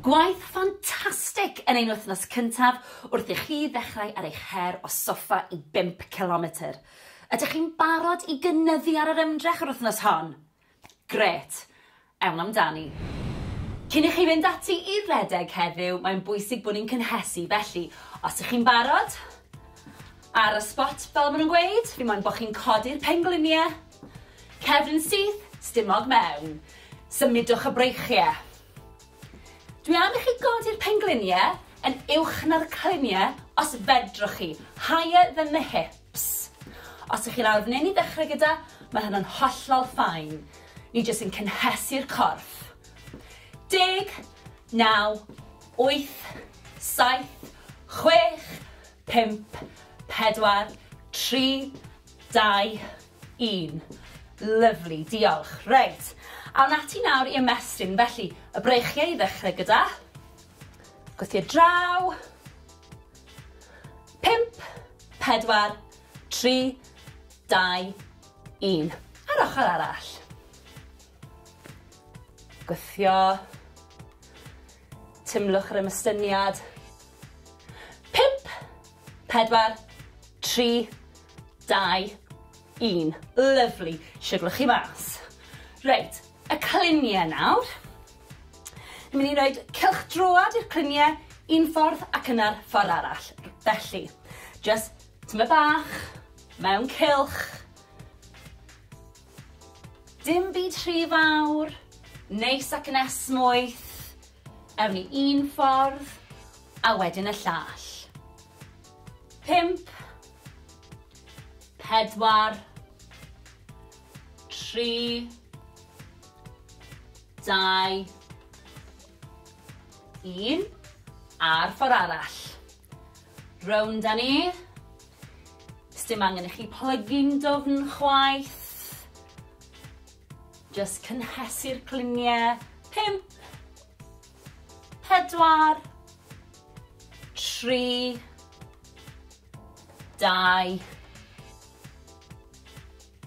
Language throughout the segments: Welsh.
Gwaith ffantastig yn ein wythnos cyntaf wrth i chi ddechrau ar eich her o soffa i bump cilometr! Ydych chi'n barod i gynyddu ar yr ymdrech yr wythnos hon? Grêt! Ewn amdani! Cyn i chi fynd ati i redeg heddiw, mae'n bwysig bod ni'n cynhesu, felly, os ych chi'n barod, ar y sbot, fel maen nhw'n gweud, fi moyn bod chi'n codi'r pengliniau, Cefn syth, stumog mewn. Symudwch y breichie. Dwi am i chi godi'r penglunie yn uwch na'r clunie os fedrwch chi, higher than the hips. Os ych chi lawr f'nyn i ddechrau gyda, mae hynna'n hollol ffain. Ni jyst yn cynhesu'r corff. Deg, naw, wyth, saith, chwech, pump, pedwar, tri, Dau, un. Lyfli, diolch. Reit, awn ati nawr i ymestyn. Felly, y breichiau i ddechrau gyda. Gwythio draw. Pimp, pedwar, tri, dau, un. A'r ochr arall. Gwythio. Tymlwch yr ymystyniad. 5, 4, 3, 2, 1. Lyfli. Siwrlwch chi mas. Reit, y cluniau nawr. Ni'n mynd i roed cylch droad i'r cluniau un ffordd ac yna'r ffordd arall. Felly, just tyma bach, mewn cylch, Dim byd rhy fawr, neis ac yn esmwyth, ewn ni un ffordd a wedyn y llall. Pump, pedwar, tri, dau, un, a'r ffordd arall. Rownd â ni. Sdim angen i chi plygu'n dwfn chwaith. Just cynhesu'r cliniau. Pump. Pedwar. Tri. Dau.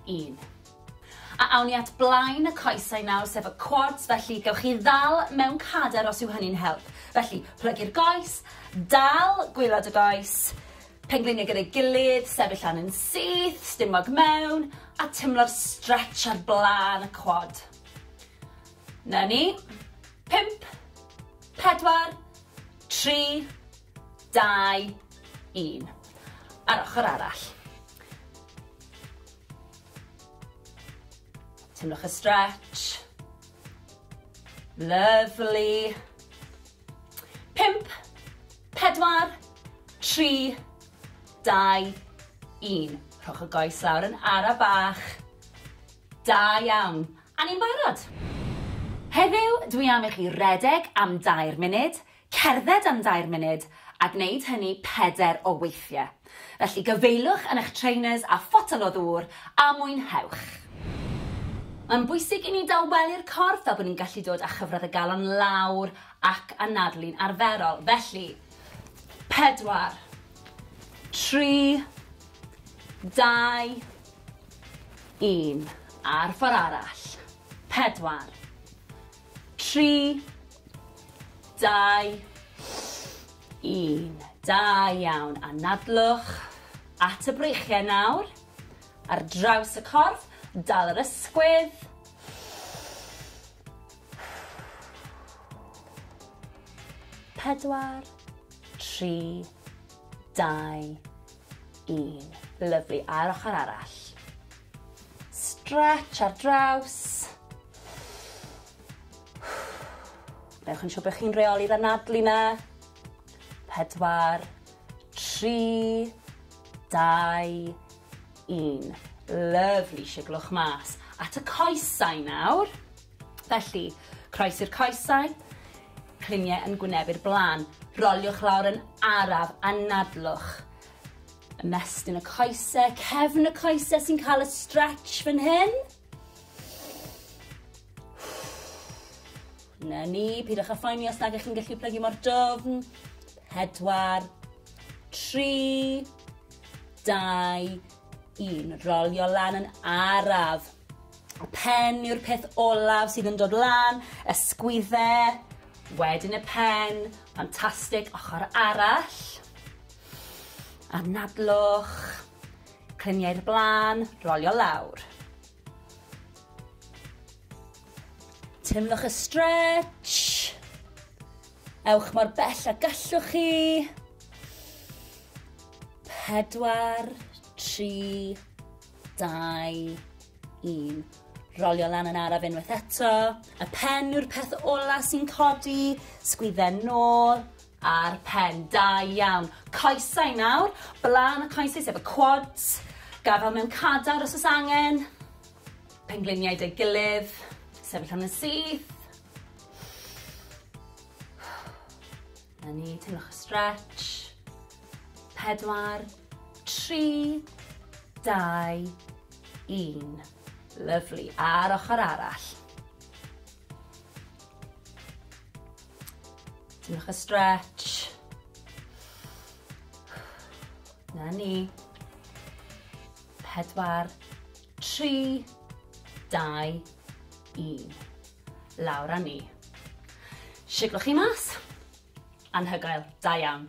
un. A awn ni at blaen y coesau nawr, sef y quads, felly gewch chi ddal mewn cader os yw hynny'n help. Felly, plygu'r goes, dal gwylod y goes, pengliniau gyda'i gilydd, sefyll lan yn syth, stumog mewn, a tymlo'r stretch ar blaen y quad. Na ni. 5, 4, 3, 2, 1. Ar ochr arall. Teimlwch y stretch. Lovely. Pimp, pedwar, tri, dau, un. Rhowch y goes lawr yn ara bach. Da iawn. A ni'n barod. Heddiw, dwi am i chi redeg am dair munud, Cerdded am dair munud a gwneud hynny pedair o weithiau. Felly gyfeiliwch yn eich trainers a photel o ddŵr a mwynhewch! Mae'n bwysig i ni dawelu'r corff fel bod ni'n gallu dod â chyfradd y galon lawr ac anadlu'n arferol. Felly, pedwar, tri, dau, un, a'r ffordd arall. Pedwar, Tri, dau, un. Da iawn. Anadlwch at y breichiau nawr. Ar draws y corff, dal yr ysgwydd. Pedwar, tri, dau, un. Lyfli. A'r ochr arall. Stretch ar draws. Newch yn siŵr bod chi'n reoli'r anadlu na. Pedwar, tri, dau, un. Lovely, siglwch mas. At y coesau nawr. Felly, croes i'r coesau, cliniau yn gwnebu'r blaen. Roliwch lawr yn araf, anadlwch. Ymestyn y coese, cefn y coese sy'n cael y stretch fan hyn. Na ni, pidwch â phoeni os nag ych chi'n gallu plygu mor dofn. Pedwar, tri, dau, un. Rolio lan yn araf. Y pen yw'r peth olaf sydd yn dod lan, y sgwydde, wedyn y pen, ffantastig, ochr arall. Anadlwch, clymu i'r blaen, rolio lawr. Teimlwch y stretch. Ewch mor bell a gallwch chi. Pedwar, tri, dau, un. Rolio lan yn araf unwaith eto. Y pen yw'r peth ola sy'n codi. Sgwydden nôl. Ar pen, da iawn. Coesau nawr, blaen y coesau sef y quads, gafal mewn cadar os oes angen, pengliniau dy gilydd, sefyll am yn syth. Na ni, teimlwch y stretch. Pedwar, tri, dau, un. Lyflu, a'r ochr arall. Diolch y stretch. Na ni. Pedwar, tri, dau, un. Lawr a ni. Siglwch chi mas. Anhygoel, da iawn.